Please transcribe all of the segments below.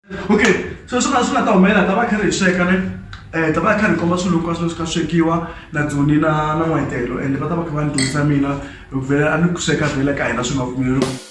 okay so swi nga swi nga ta humelela ta va kha ri hi sweka ne um ta va kha ri komba swilo hinkwaswo leswi ka swekiwa na dzoni na na n'wetelo ende va ta va kha va ni dyondzisa mina vhele a ni ku sweka vhele ka hina swi nga pfumeleriwa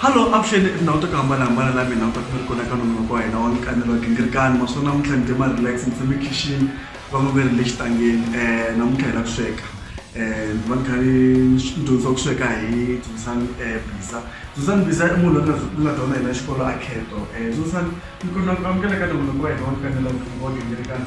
Hallo, avuxeni i tindhawu ta ku hambanahambana la mina u ta kuma ri kona ka nongonoko wa hina wa nkanelo wa gingirikani maswona namuntlha ni tima relax ni tshame khixini va nga ve ri le xitangeni um namuntlha hi la ku sweka um ni va ni kha ni ni dyondzisiwa ku sweka hi dyondzisani bisa dyondzisani bisa i munhu loyi ni nga dyondza hi la xikolo a kheto um dyondzisani ni kombela ku amukela ka nongonoko wa hina wa nkanelo wa gingirikani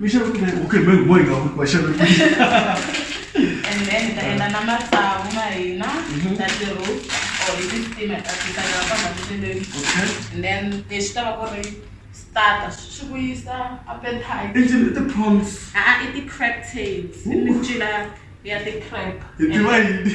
Mixa ku ri okay me boy nga ku kwaxa mi. And then ta enda na matsavu ma hina mhm. na ti roof or hi ti steam ta ti ta na kona ndleleni. Okay. And then lexi ta va ku ri starter swi ku yisa appetite. I ti ti prawns. Ah, ah i ti crab tails. I mincila ya ti crab. Hi tiva yini?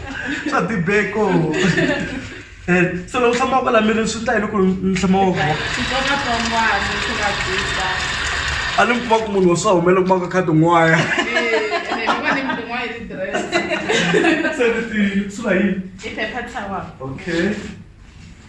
swa tibeko eh, so loko tshama kwala miri swi ta hi loko ni tshama waka a ni mi kuma ku munhu wa swa humela kuma ka khadi n'waya se ti sula yini okay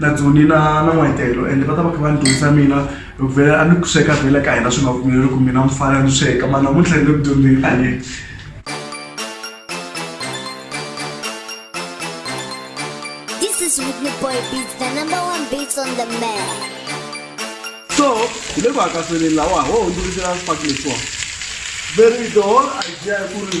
na dzuni na na n'wayitelo ende va ta va kha va ni dyondzisa mina hi ku vhela a ni ku sweka vhela ka hina swi nga pfumeleli ku mina mufana ni sweka mara namuntlha ni le ku dyondzeni a ni This is Whitney Boy Beats, the number one beats on the map. so hi le ku hakaseleni lawa ho hundzuluxela swifakiso very the whole idea ku ri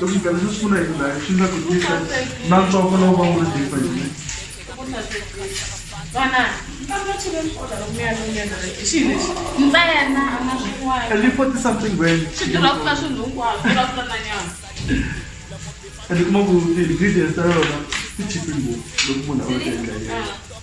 Loko ndlela swi sungula hi ndhayo swi nga kunyisa na ntsongo lowu va wu ri defa hi mina. And you forty something when and kuma ku ti-ingredients ta yona ti chipe ngopfu loko munhu a va teka hi yena.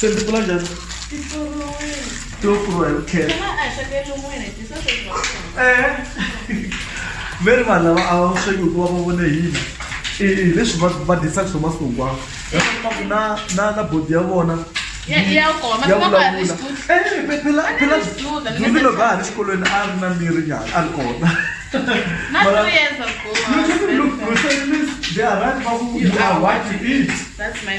se ti pfula njhani ti lo pfuriwa hi vukheta ve ri vanhu lava a va sweki hikuva va vone hina hileswi va va disaka swo masiku hinkwawo yaku na na na bodi ya vona yavulavulaphilazilo va ha ri xikolweni a ri na miri nyana a ri kona They are right, but you are what you eat. That's my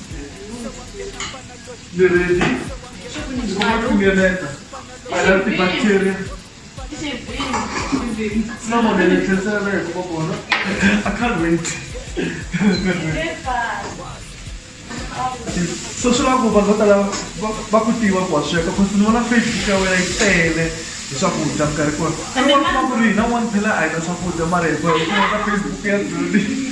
Ni ready. Kumeleta. I love the bacteria. Sina mwana ni tesa na yako kwa kona. I can't wait. So swi lava ku vanhu vo tala va- va ku tiva ku wa sweka cause ni vona facebook ya wena yi tele hi swakudya minkarhi kona i vona ku ri hina one phela a hi na swakudya mara hi boheka ka facebook ya duli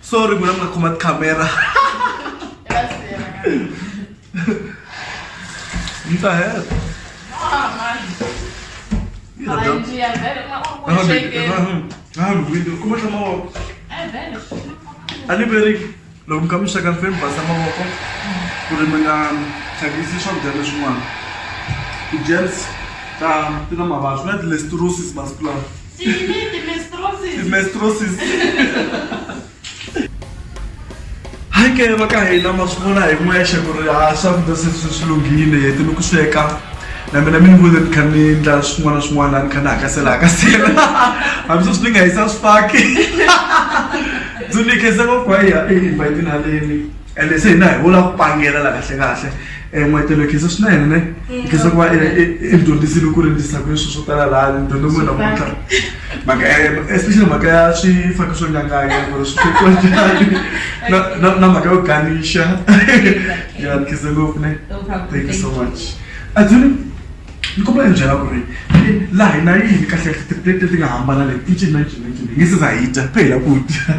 sorry muna mi nga khoma tikhamera ni ta heta Yi ta dya- kuma tlha mavoko a ni veri loko mi kha mi sweka fe mi basa mavoko ku ri mi nga thyakisi swakudya leswin'wana ti-germs ta ti na mavabyi na ti-lesturosis masiku lawa Sine de mestrosis. De mestrosis. Hi ke va ka hina ma swi vona hi n'wexe ku ri ha swakudya se swi swi lunghile heti ni ku sweka na mina mi ni vone ni kha ni ndla swin'wana na swin'wana laha ni kha ni hakasela hakasela hambi sweswi ni nga hisa swifaki ndzi ni khese va ku hayi invite haleni ende se hina hi vula ku pangela la kahle kahle um eh, n'wetelo khiso swinene ne khiso ku va eh, eh, i dyondzisile ku rindzisa ku swilo swo tala laha ni dyondze n'wina namuntlha mhaka especially mhaka ya swifaki swo nyanganya ku ri swi fekiwa njhani na mhaka yo ganixa ya ni khiso ngopfu ne thank you so much adzuni ni kombela ni byela ku ri laha hi na yini kahle kahle tiplate leti nga hambana leti i cinci na cinci hi nge se za hi dya phela ku dya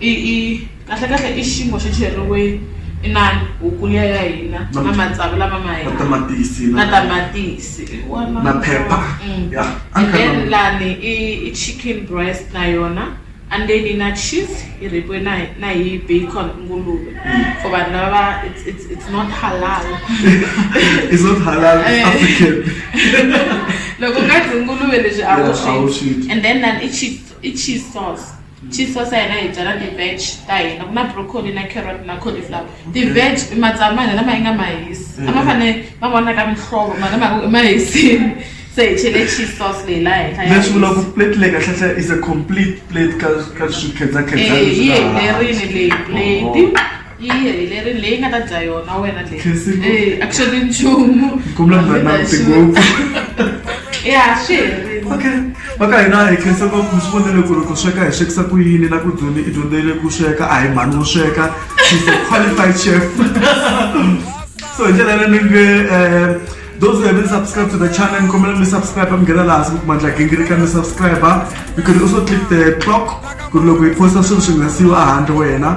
I i kahle kahle i xinkwa xi cheriwe inana huku liya ya hina na matsavu lama ma hina na tamatisi na tamatisi hi wona na phepha ya and then lani i i chicken breast na yona and then yi na cheese yi rheyikiwe na hi na hi bacon nguluve for vanhu lava va it's it's it's not halal It's not halal, it's African. loko u nga dyi nguluve leswi a wu Yeah, a wu swi swi dyi. dyi and then lani i cheese i cheese sauce. chief swa sa hina hi byala ti-veg ta hina ku na broccoli na carrot na cauliflower ti-veg i matsavu ma hina lama yi nga ma hisi a ma fanele ma vonaka mihlovo mara ma ma hisini se hi chele cheese sauce leyi laha henhla ya leswi vula ku hisa. plate leyi kahlehla is a complete plate ka ka swikhedzakhedza Eh, yi helerile leyi plate yi helerile leyi nga ta dya yona wena le eh, actually nchumu ya swi herile okay vaka hina hi khensa ku mi swi vonele ku ri ku sweka hi swekisa ku yini na ku dyondzi i dyondzele ku sweka a hi mhani wo sweka she's a qualified chef so hi ndlela yaleyo ni nge um those who haven't subscribed to the channel nikombela mi subscribe mi nghena laha siku kumandla gingirika mi subscribe you can also click the clock ku ri loko hi posta swilo swi ngasiwa a handle wena